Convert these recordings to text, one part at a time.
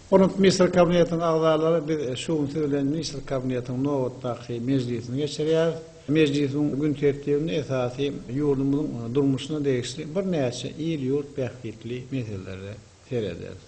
Hormatly Ministr Kabinetiniň agzalary, biz şu gün siz bilen Ministr Kabinetiniň nobatdaky mejlisini geçirýäris. Mejlisiň gün tertibinde esasy ýurdumyzyň durmuşyna degişli birnäçe il-ýurt bähbitli meselelere serederis.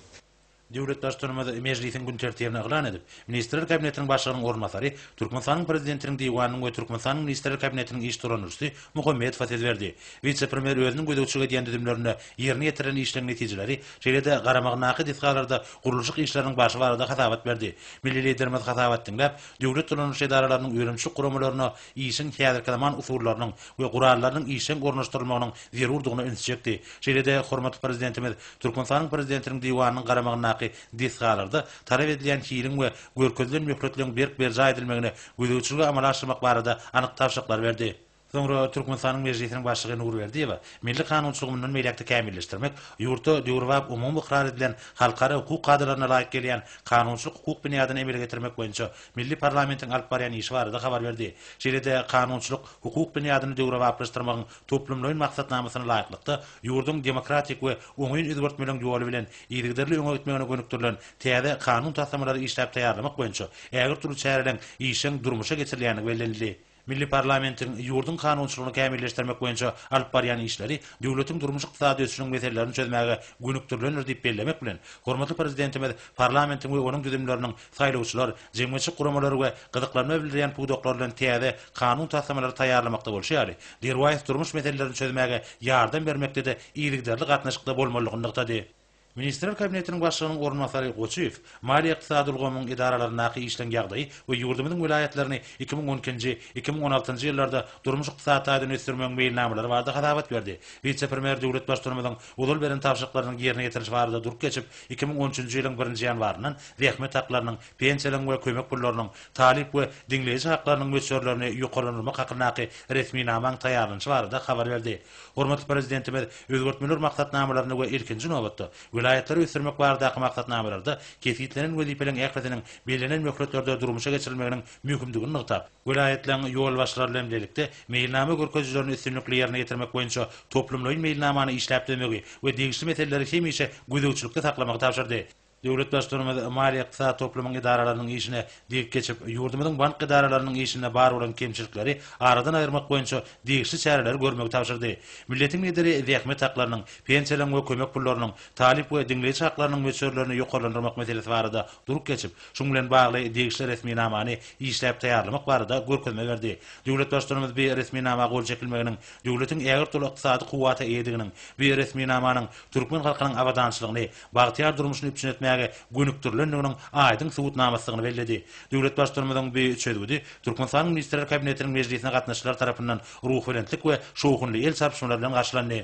Döwlet Baştutanymyz mejlisiň gün tertibini yglan edip, Ministrler Kabinetiniň Başlygynyň orunbasary, Türkmenistanyň Prezidentiniň Diwanynyň we Türkmenistanyň Ministrler Kabinetiniň iş tutandyryjysy Muhammedowa söz berdi. Wise-premýer özüniň gözegçilik edýän düzümlerinde ýerine ýetirilen işleriň netijeleri, şeýle-de garamagyndaky desgalarda gurluşyk işleriniň barşy barada hasabat berdi. Milli Liderimiz hasabat diňläp, döwlet dolandyryş edaralarynyň önümçilik guramalaryna işiň häzirki zaman usullarynyň we gurallarynyň işjeň ornaşdyrylmagynyň zerurdygyna üns çekdi. Şeýle-de hormatly Prezidentimiz Türkmenistanyň Prezidentiniň Diwanynyň garamagyndaky desgalarda talap edilýän hiliň we görkezilen möhletleriň berk berjaý edilmegine gözegçiligi amala aşyrmak barada anyk tabşyryklary berdi. Soňra Türkmenistanyň Mejlisiniň Başlygy Nurberdiýewa milli kanunçylygy mundan beýläk-de kämilleşdirmek, ýurtda döwrebap umumy ykrar edilen halkara hukuk kadalaryna laýyk gelýän kanunçylyk-hukuk binýadyny emele getirmek boýunça Milli parlamentiň alyp barýan işi barada habar berdi. Şeýle-de kanunçylyk, hukuk binýadyny döwrebaplaşdyrmagyň toplumlaýyn maksatnamasyna laýyklykda, ýurduň demokratik we oňyn özgertmeleň ýoly bilen yzygiderli öňe gitmegine gönükdirilen täze kanun taslamalary işläp taýýarlamak boýunça ägirt uly çäreleň işeň durmuşa geçirilýändigi bellenildi. Milli parlamentiň ýurduň kanunçylygyny kämilleşdirmek boýunça alyp barýan işleri döwletiň durmuş-ykdysady ösüşiniň meselelerini çözmäge gönükdirilendir diýip bellemek bilen, hormatly Prezidentimiz parlamentiň we onuň düzümleriniň saýlawçylar, jemgyýetçilik guramalary we gyzyklanma bildirýän pudaklar bilen täze kanun taslamalary taýýarlamakda bolşy ýaly, derwaýys durmuş meselelerini çözmäge ýardam bermekde-de yzygiderli gatnaşykda bolmalydygyny nygtady. Ministrler Kabinetiniň Başlygynyň orunbasary Goçyýew maliýe-ykdysady ulgamyň edaralaryndaky işleň ýagdaýy we ýurdumyzyň welaýatlaryny iki müň on ikinji, iki müň on altynjy ýyllarda durmuş-ykdysady taýdan ösdürmegiň meýilnamalary barada hasabat berdi. Wise-premýer döwlet Baştutanymyzyň ozal beren tabşyryklarynyň ýerine ýetirilişi barada durup geçip, iki müň on üçünji ýylyň birinji ýanwaryndan zähmet haklarynyň, pensiýalaryň we kömek pullarynyň, talyp we diňleýji haklarynyň möçberlerini ýokarlandyrmak hakyndaky resminamaň taýýarlanyşy barada habar berdi. Hormatly Prezidentimiz özgertmeler maksatnamalarynda we ilkinji nobatda, welaýatlary ösdürmek baradaky maksatnamalarda kesgitlenen wezipeleriň ählisiniň bellenen möhletlerde durmuşa geçirilmeginiň möhümdigini nygtap, welaýatlaryň ýolbaşçylary bilen bilelikde meýilnama görkezijilerini üstünlikli ýerine ýetirmek boýunça toplumlaýyn meýilnamany işläp düzmegi we degişli meseleleri hemişe gözegçilikde saklamagy tabşyrdy. Döwlet Baştutanymyz maliýe-ykdysady toplumyň edaralarynyň işine degip geçip, ýurdumyzyň bank edaralarynyň işinde bar bolan kemçilikleri aradan aýyrmak boýunça degişli çäreleri görmegi tabşyrdy. Milletiň Lideri zähmet haklarynyň, pensiýalaryň we kömek pullarynyň, talyp we diňleýji haklarynyň möçberlerini ýokarlandyrmak meselesi barada durup geçip, şuň bilen bagly degişli resminamany işläp taýýarlamak barada görkezme berdi. Döwlet Baştutanymyz bi resminama gol çekilmeginiň döwletiň ägirt uly ykdysady kuwwata eýediginiň, bi resminamanyň türkmen halkynyň abadançylygyny, bagtyýar durmuşyny üpjün etmäge gönükdirilendiginiň aýdyň subutnamasydygyny belledi. Döwlet Baştutanymyzyň bu çözgüdi Türkmenistanyň Ministrler Kabinetiniň mejlisine gatnaşyjylar tarapyndan ruhubelentlik we şowhunly el çarpyşmalar bilen garşylandy.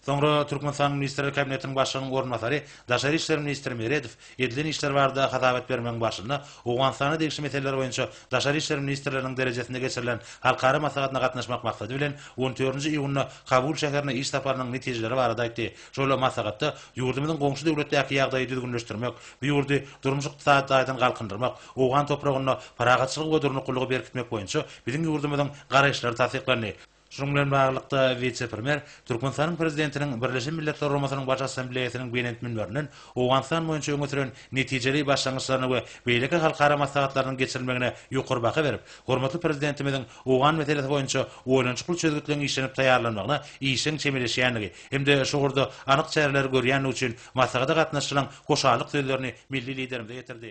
Soňra Türkmenistanyň Ministrler Kabinetiniň Başlygynyň orunbasary, daşary işler ministri Meredow edilen işler barada hasabat bermegiň barşynda Owganystana degişli meseleler boýunça daşary işler ministrleriniň derejesinde geçirilen halkara maslahatyna gatnaşmak maksady bilen on dördünji iýunda Kabul şäherine iş saparynyň netijeleri barada aýtdy. Şol maslahatda ýurdumyzyň goňşy döwletdäki ýagdaýy düzgünleşdirmek, bu ýurdy durmuş-ykdysady taýdan galkyndyrmak, owgan topragynda parahatçylygy we durnuklylygy berkitmek boýunça biziň ýurdumyzyň garaýyşlary tassyklandy. Şunuň bilen baglylykda, wise-premýer Türkmenistanyň Prezidentiniň Birleşen Milletler Guramasynyň Baş Assambleýasynyň belent münberinden Owganystan boýunça öňe süren netijeli başlangyçlaryna we beýleki halkara maslahatlarynyň geçirilmegine ýokary baha berip, hormatly Prezidentimiziň owgan meselesi boýunça oýlanyşykly çözgütleň işlenip taýýarlanmagyna işjeň çemeleşýändigi hem-de şu ugurda anyk çäreleri görýändigi üçin maslahata gatnaşyjylaryň hoşallyk sözlerini milli Liderimize ýetirdi.